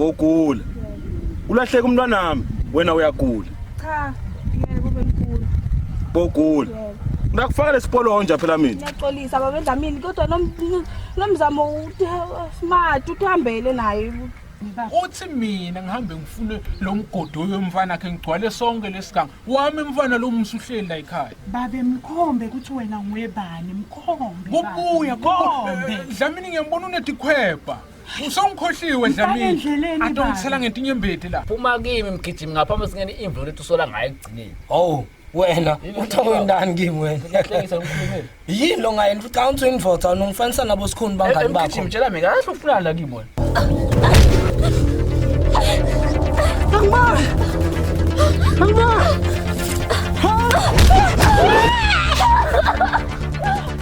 Ngogula. Ulahleka umntwanami, wena uyagula. Cha, yebo bemkhulu. Bogula. Ngakufaka lesikolo honja phela mina. Ngiyaxolisa baba Dlamini kodwa nomzamo smart uthambele naye. Uthi mina ngihambe ngifune lo mgodi oyomfana wakhe ngigcwale sonke lesiganga. Wami mfana lo musuhleli la ekhaya. Babe mkhombe ukuthi wena nguyebani mkhombe. Kubuya kombe. Dlamini ngiyambona unedikhwebha. Usongikhohliwe Dlamini. Adongisela ngentinye imbedi la. Phuma kimi mgijimi ngaphambi singene imvulo lethu sola ngayo ekugcineni. Oh. wena uthowe ndani kimi wena yini lo ngayeni futhi xa uthi indoda ungifanisa nabo sikhuni bangani bakho ngijimtshela mina kahle ufunani la kimi wena Angibona Angibona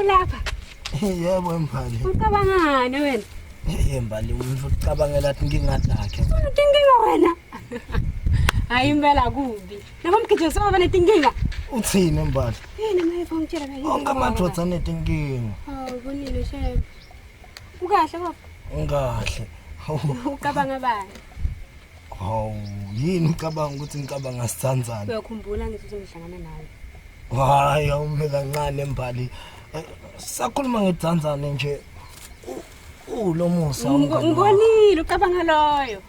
Ulapha. Yebo mfana. Ucabangani wena? Hey mbali umuntu ucabangela ukuthi ngingadakhe. Uthi nginga wena. Hayi impela kubi. Nabo mgijima saba banetinkinga. Uthini mbali? Yini naye funa ukutshela kahle. Onke amadoda anetinkinga. Hawu kunile shame. Ukahle baba? Ungahle. Ucabanga bani? Hawu yini ucabanga ukuthi ngicabanga sithandzana? Uyakhumbula ngithi uzohlangana nawe. Hayi awume kancane mbali. Eh, sakhuluma ngethandzane nje. Ulomusa. Ngikonile ucabanga loyo.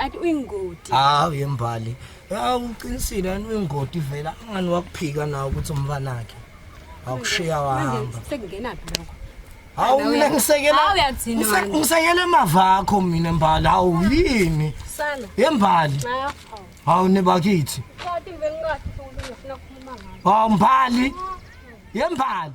athi uyingoti hawu yembali hawu uqinisile yani uyingoti vela angani wakuphika nawo ukuthi umfana wakhe awukushiya wahamba sekungenaphi lokho hawu mina ngisekela ngisekela emava akho mina mbali hawu yini yembali hawu nebakithi hawu mbali yembali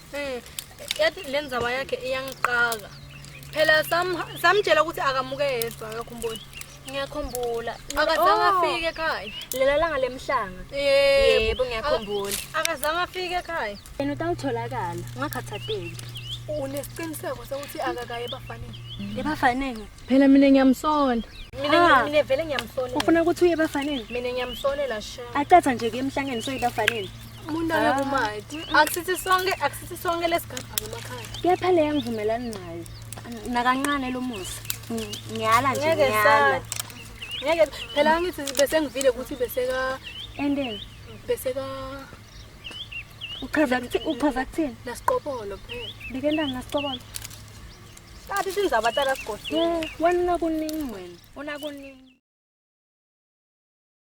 Mm, yathi le ndzaba yakhe iyangiqaka phela samtshela ukuthi akamuke yedwa yokho umboni ngiyakhumbula akazange oh. afike ekhaya lela langa lemhlanga yebo ngiyakhumbula akazange afike ekhaya yena utawutholakala ungakhathateki unesiqiniseko sokuthi akakaye ebafaneni ebafaneni phela mina ngiyamsonda mina mina vele ngiyamsonela ufuna ukuthi uye ebafaneni mina ngiyamsonela sha acatha nje ke emhlangeni soyibafaneni umuntu aye kumati akusithi sonke akusithi sonke lesigaba ngemakhaya kepha leyo ngivumelani nayo nakancane lo musa ngiyala nje ngiyala ngeke phela ngithi bese ngivile ukuthi bese ka endeni bese ka uchaza ukuthi uchaza kuthini nasiqobolo phela bike ndani nasiqobolo Sathi sinzaba tsala sigodini. Wena kuningi wena. Una kuningi.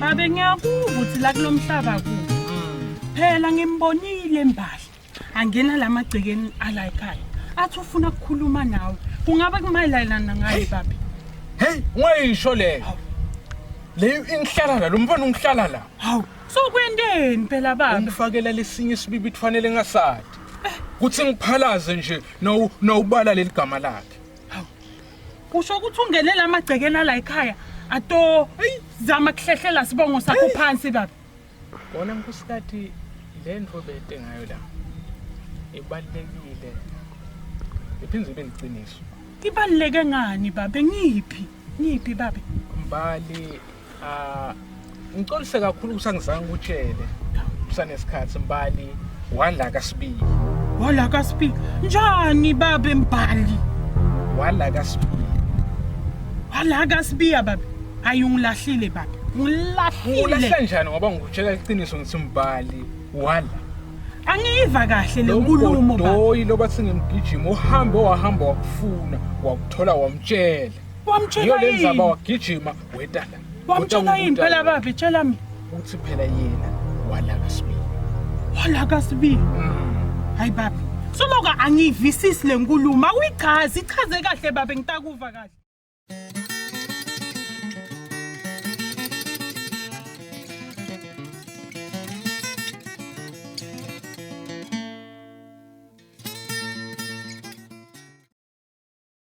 babe ngiyakuva ukuthi la kulo mhlaba ku phela ngimbonile mbali angena la magcekeni ala ekhaya athi ufuna ukukhuluma nawe kungaba kumayelana ngaye babe heyi ungayisho leyo leyo ingihlala la lo mfana ungihlala la hawu so kwenteni phela babe ungifakela lesinye isibibi kufanele ngasadi kuthi ngiphalaze nje nawubala leli gama lakhe usho ukuthi ungenele amagcekela la ekhaya ato zama kuhlehlela sibongo sakho phansi baba bona nkusikati le nto bete ngayo la ibalulekile iphinde ibe liqiniso ibaluleke ngani babe ngiphi ngiphi babe mbali Ah ngicolise kakhulu kusangizange ukutshele kusanesikhathi mbali wala kasibili wala kasibili njani babe mbali wala kasibili wala kasibili babe ayungilahlile babe ngilahlile ulahla njani ngoba ngikutshela iqiniso ngithi mbali wala angiyiva kahle le nkulumo baba doyi loba singimgijima uhambe wahamba wakufuna wakuthola wamtshela wamtshela yini yo lenzaba wagijima wetala wamtshela yini phela babi tshela mina uthi phela yena walaka sibili walaka sibili mm. hayi babi somoka angiyivisisi le nkulumo awuyichazi ichaze kahle babe ngitakuva kahle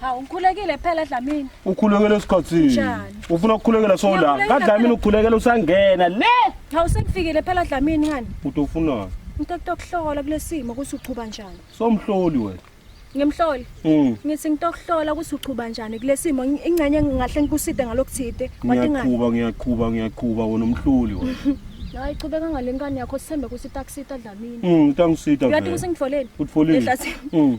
Hawu ngikhulekile phela Dlamini. Ukhulekela esikhathini. Njani? Ufuna ukukhulekela sola. Ngiyakhulekela Kadlamini phela. ukukhulekela usangena le. Hawu sengifikile phela Dlamini ngani? Uthi ufunani? Into okutokuhlola kulesimo ukuthi uchuba njani. Somhloli wena. Ngimhloli. Mm. Ngithi ngitokuhlola ukuthi uchuba njani kulesimo Ngi- ingcenye ngingahle ngikuside ngalokuthide. Wathi ngani? Ngiyaqhuba ngiyaqhuba ngiyaqhuba wena umhloli wena. Hayi chubeka ngalenkani yakho sithembe ukuthi itakusita Dlamini. Mm, utangisita. Uyathi vele. kusengitfoleni? Utfolile. Ehlathini. Mm.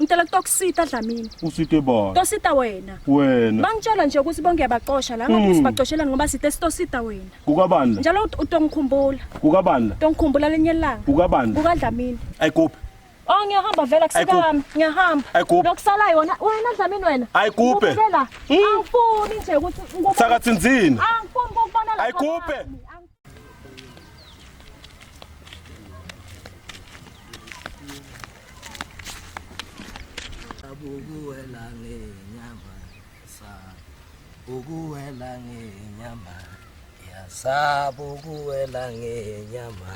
Ngicela kutokusita Dlamini. Usite bani? Tosita wena. Wena. Bangitshela nje ukuthi bonke yabaxosha la ngabe sibagcoshelani ngoba site sitosita wena. Kukabani la? Njalo ut- utongikhumbula. Kukabani la? Tongikhumbula lenye ilanga. Kukabani la? KukaDlamini. Ayikuphi. Oh ngiyahamba vele Ayikuphi. akusikami. Ngiyahamba. Ayikuphi. Lokusala yona wena Dlamini wena. Ayikuphi. Ubukela. Angifuni nje ukuthi ngikubone. Thakathinzini. Angifuni ukubona la. Ayikuphi. Angifuni. ukuwela ngenyama yasaba ukuwela ngenyama yasaba ukuwela ngenyama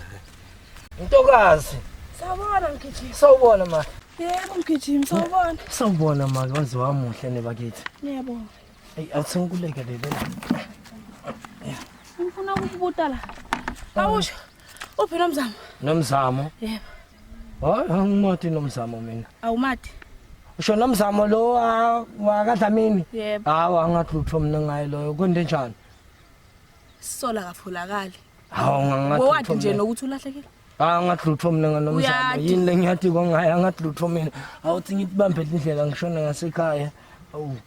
ntokazi sawubona mgijimi sawubona ma yebo mgijimi sawubona sawubona ma kwazi wamuhle nebakithi ngiyabonga Hey, athi ngikulekelele la. Ngifuna ukubuta la. Awusho. Uphi nomzamo? Nomzamo? Yebo. Hayi, angimati nomzamo mina. Awumati. Usho nomzamo lo wakadlamini? Yebo. Hawu angathi utho mina ngaye loyo. Kwende njani? Sisola kafolakali. Hawu ngangathi. Wowathi nje nokuthi ulahlekile. Ah ngathi lutho mina nganomzamo. Yini lengiyathi kongaye angathi lutho mina. Awuthi ngibambe indlela ngishona ngasekhaya. Awu.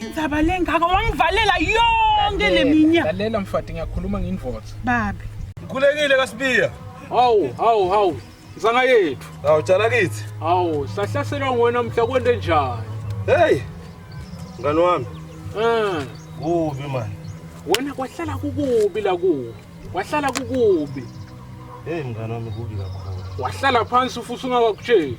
Indzaba lengaka wangivalela yonke leminyaka. Lalela mfati ngiyakhuluma nginvothi. Babe. Ngikhulekile kaSibiya. Hawu, hawu, hawu. Nzanga yethu. Hawu tshala kithi. Hawu, sahlaselwa ngwena mhla kwende njani? Hey. Ngani wami? Eh. Kubi manje. Wena kwahlala kukubi la kuwe. Wahlala kukubi. Hey mngane wami kubi kakhulu. Wahlala phansi ufuthi ungakakutsheli.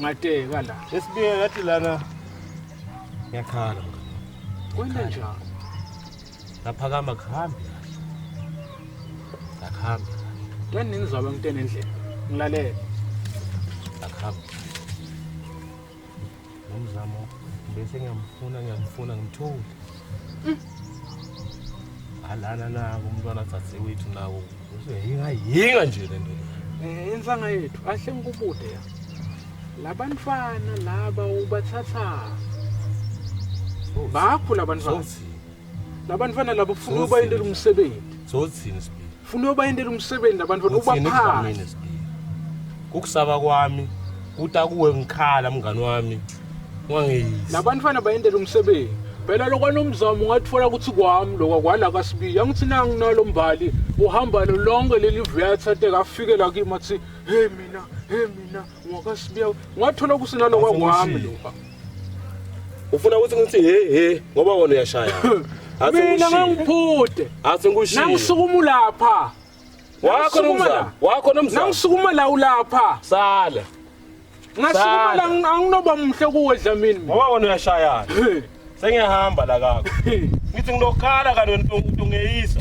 Ngateka la. Esibike ngathi lana ngiyakhala. Kwenda njalo. Laphakama kuhambi. Lakuhambi. Ngani ningizwaba ngitene endlini. Ngilalele. Lakuhambi. Nomzamo bese ngiyamfuna ngiyamfuna ngimthole. Mm. Alana na umntwana dzadzewethu nawo Yinga yinga nje lento. Eh insanga yethu ahle ngikubude ya. Labantwana laba ubathatha. Bakho labantwana. Labantwana laba ufuna ubayindela umsebenzi. Sothini sibili. Ufuna ubayindela umsebenzi labantwana ubaphathe. Ukusaba kwami kuta kuwe ngikhala mngani wami wangeyisa labantwana bayendela umsebenzi phela lokwanomzamo ungatfola ukuthi kwami lokwa kwala kasibiyi angithi nanginalo mbali uhamba lo lonke leli vuyatha te kafike la kimi athi he mina he mina ngwakasibiya ungathola ukuthi nalokwa kwami lokwa ufuna ukuthi ngithi he he ngoba wona uyashaya mina ngangiphude athi ngishiye nangisukuma lapha Wakho Sukuma nomzamo. la. Wakho nomzamo. Nangisukuma la ulapha. Sala. Ngasukuma la Sala. anginoba muhle kuwe Dlamini. mina. Ngoba wena uyashayana. Hey, Sengiyahamba la kako. hey. Ngithi ngilokhala kanti wena utungeyisa.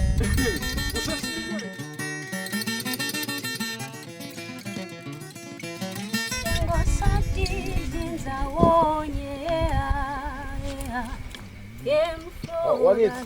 Wakithi.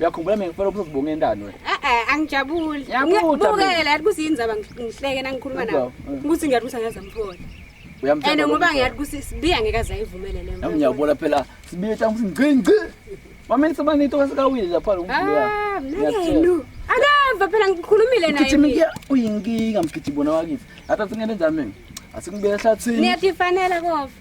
uyakhumbula mina ngifela uphuma ubonga endani wena eh eh angijabuli ngibukele yathi kusini zaba ngihleke nangikhuluma nawe ukuthi ngiyathi ukuthi angazi amthola uyamthanda and ngoba ngiyathi ukuthi sibiya ngeke azayivumele le nto ngiyabona phela sibiya thangi ukuthi ngci ngci mama nisibani into kasikawile lapha lo mkhulu ah mnakenu akava phela ngikhulumile naye ngithini ngiya uyinkinga mgidi bona wakithi athathe ngene njani mina asikubeka ehlathini niyathi fanele kofa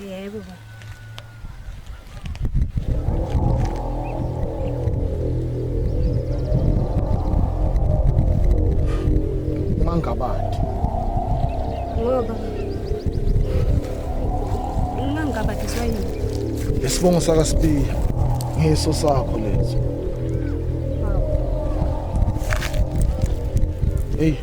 Yebo baba. Mangabadi. Ngoba Mangabadi swayini. Isibongo saka Sibiya. Ngeso sakho leso. Hey.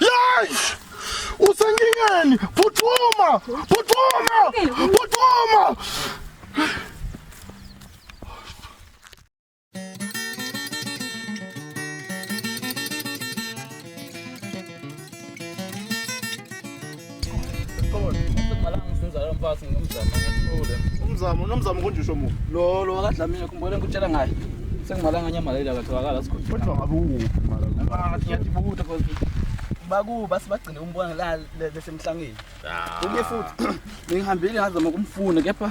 Yay! Usengingeni! Phuthuma! Phuthuma! Phuthuma! Umzamo nomzamo konje usho mu. Lo lo akadlamile kumbona ngikutshela ngaye. Sengimalanga nyamaleli akatholakala sikhothi. Kodwa ngabe ukuphi mara? Ah, siyabuta kodwa. Bakuba sibagcine umbona la lesemhlangeni. Kunye futhi ngihambile ngazama ukumfuna kepha